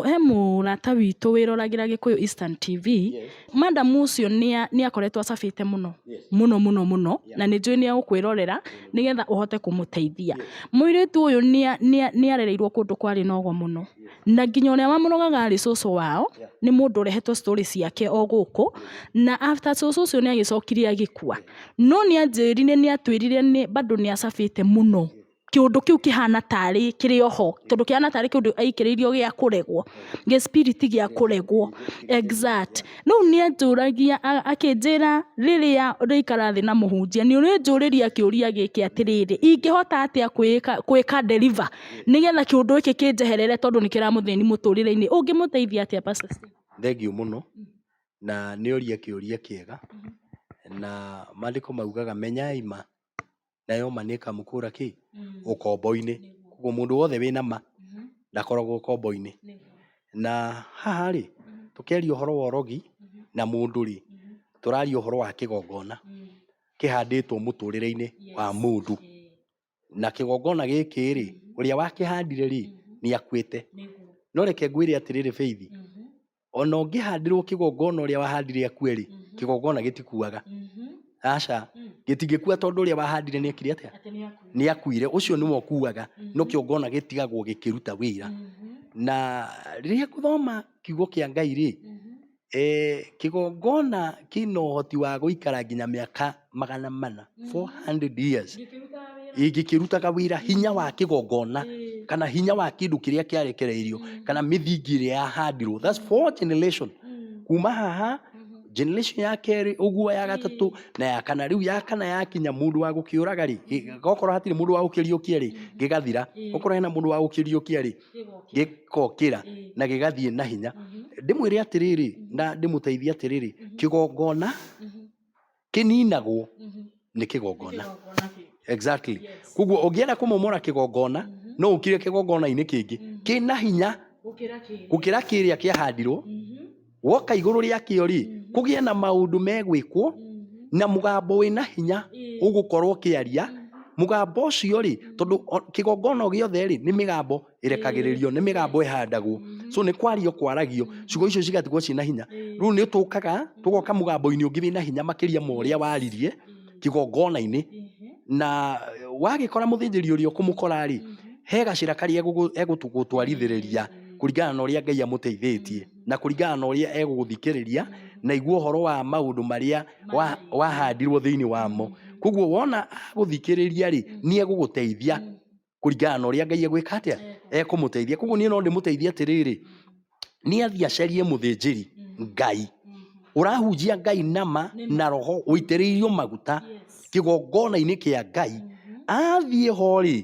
He mũrata witũ wĩroragĩra Gĩkũyũ Instant TV, madam ũcio nĩ akoretwo acabĩte mũno, mũno mũno mũno na nĩ njũĩ nĩ egũkwĩrorera nĩgetha ũhote kũmũteithia. Mũirĩtu ũyũ nĩ arereirwo kũndũ kwarĩ na ũgo mũno na nginya ũrĩa wamũrogaga arĩ cũcũ wao nĩ mũndũ ũrehetwo story ciake o gũkũ na after cũcũ ũcio nĩ agĩcokire agĩkua. No nĩ anjĩrire nĩ atwĩrire bado nĩ acabĩte mũno, kĩũndũ kĩu kĩhana tarĩ kĩrĩ o ho, tondũ kĩhana tarĩ kĩũndũ aikĩrĩirio gĩa kũregwo, gĩ spirit gĩa kũregwo, exact. Rĩu nĩ anjũragia akĩnjĩra rĩrĩa ũrĩikara thĩ na mũhunjia nĩ ũrĩnjũrĩria kĩũria gĩkĩ atĩrĩrĩ, ingĩhota atĩa gwĩka deliver nĩgetha kĩũndũ gĩkĩ kĩnjeherere tondũ nĩ kĩramũthĩni mũtũrĩre-inĩ, ũngĩmũteithia atĩa pastor Stella? Thengiũ mũno, na nĩ oria kĩũria kĩega, na mandĩko maugaga menyai ma, nayo ma nĩ ĩkamũkũra kĩ? Ũkombo-inĩ. Koguo mũndũ wothe wĩna ma, ndakoragwo ũkombo-inĩ. Na haha rĩ, tũkĩaria ũhoro wa ũrogi na mũndũ rĩ, tũraria ũhoro wa kĩgongona kĩhandĩtwo mũtũrĩre-inĩ wa mũndũ. na kĩgongona gĩkĩ rĩ ũrĩa wakĩhandire rĩ nĩ akuĩte nĩguo no reke ngwĩre atĩrĩrĩ beithi Mhm, ona ũngĩhandĩrwo kĩgongona ũrĩa wahandire akue rĩ Mhm. kĩgongona gĩtikuaga mhm, aca mm. gĩtingĩkua tondũ ũrĩa wahandire nĩ ekire atĩa atĩ nĩ akuire nĩ akuire ũcio nĩwe ũkuaga Mhm. no kĩongona gĩtigagwo gĩkĩruta wĩra Mhm, na rĩrĩa ngũthoma kiugo kĩa ngai rĩ mhm, Kĩgongona kĩna ũhoti wa gũikara nginya mĩaka magana mana, four hundred years, gĩkĩrutaga wĩra hinya wa kĩgongona kana hinya wa kĩndũ kĩrĩa kĩarekereirio kana mĩthingi ĩrĩa yahandirwo. That's four generation. Kuma haha, generation ya kerĩ ũguo, ya gatatũ na ya kana. Rĩu ya kana yakinya mũndũ wa gũkĩũraga-rĩ, okorwo hatirĩ mũndũ wa gũkĩriũkia-rĩ, gĩgathira. Okorwo hena mũndũ wa gũkĩriũkia-rĩ... gĩkokĩra mm. na gĩgathiĩ na hinya mm-hmm. ndĩmwĩre atĩrĩrĩ mm-hmm. na ndĩmũteithie atĩrĩrĩ mm-hmm. kĩgongona kĩninagwo nĩ kĩgongona exactly koguo ũngĩenda kũmomora kĩgongona no ũkire kĩgongona-inĩ kĩngĩ kĩna hinya gũkĩra kĩrĩa kĩahandirwo woka igũrũ rĩakĩo rĩ Mhm. kũgĩe na maũndũ megwĩkwo Mhm. na mũgambo wĩna hinya Ĩĩ. ũgũkorwo ũkĩaria Mhm. mũgambo ũcio rĩ Mhm. tondũ o- kĩgongona o gĩothe rĩ nĩ mĩgambo ĩrekagĩrĩrio nĩ mĩgambo ĩhandagwo Mhm. so nĩ kwario kwaragio Mhm. ciugo icio cigatigwo ciĩ na hinya Ĩĩ. rĩu nĩ tũkaga tũgoka mũgambo-inĩ ũngĩ wĩna hinya makĩria ma ũrĩa waririe Ĩĩ. kĩgongona-inĩ Ĩhĩ. na eh, wagĩkora mũthĩnjĩri ũrĩa ũkũmũkora rĩ Mhm. he gacĩra karĩa egũgũ- egũtũgũtwarithĩrĩria Ĩĩ. kũringana na ũrĩa ngai amũteithĩtie na kũringana na ũrĩa egũgũthikĩrĩria na igua ũhoro wa maũndũ marĩa wa- wahandirwo thĩinĩ wamo koguo wona agũthikĩrĩria rĩ nĩ egũgũteithia kũringana na ũrĩa ngai egwĩka atĩa ekũmũteithia koguo niĩ no ndĩmũteithie atĩrĩrĩ nĩ athiĩ acarie mũthĩnjĩri ngai ũrahunjia ngai nama na roho ũitĩrĩirio maguta kĩgongona-inĩ kĩa ngai athiĩ ho rĩ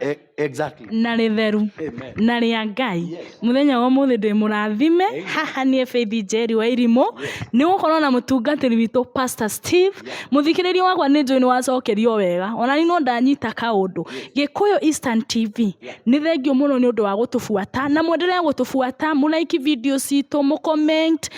E, exactly. na rĩtheru Amen. na rĩa ngai Yes. mũthenya wa mũthĩ ndĩ mũrathime Amen. haha niĩ beithi njeri wa irimũ nĩ gũkorwo na mũtungatĩri witũ pastor steve mũthikĩrĩria wakwa nĩ njũĩ nĩ wacokerio wega ona ni no ndanyita kaũndũ gĩkũyũ eastern tv nĩ thengiũ mũno nĩ ũndũ wa gũtũbuata na mwendelee gũtũbuata mũlaiki video citũ mũcomment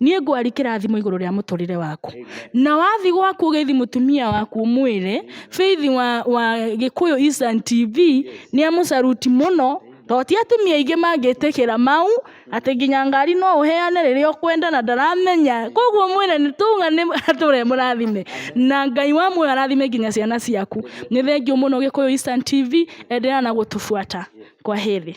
niĩ ngwari kĩrathimo igũrũ rĩa mũtũrĩre waku na wathi gwaku ũgethi mũtumia waku ũmwĩre Faith wa, wa Gĩkũyũ Eastern TV nĩ amũcaruti mũno tondũ ti atumia aingĩ mangĩtĩkĩra mau atĩ nginya ngari no ũheane rĩrĩa ũkwenda na ndaramenya koguo mwĩre nĩ tũma nĩ atũre mũrathime na Ngai wa muoyo arathime nginya ciana ciaku nĩ thengiũ mũno Gĩkũyũ Eastern TV endelea na gũtũbuata kwaheri.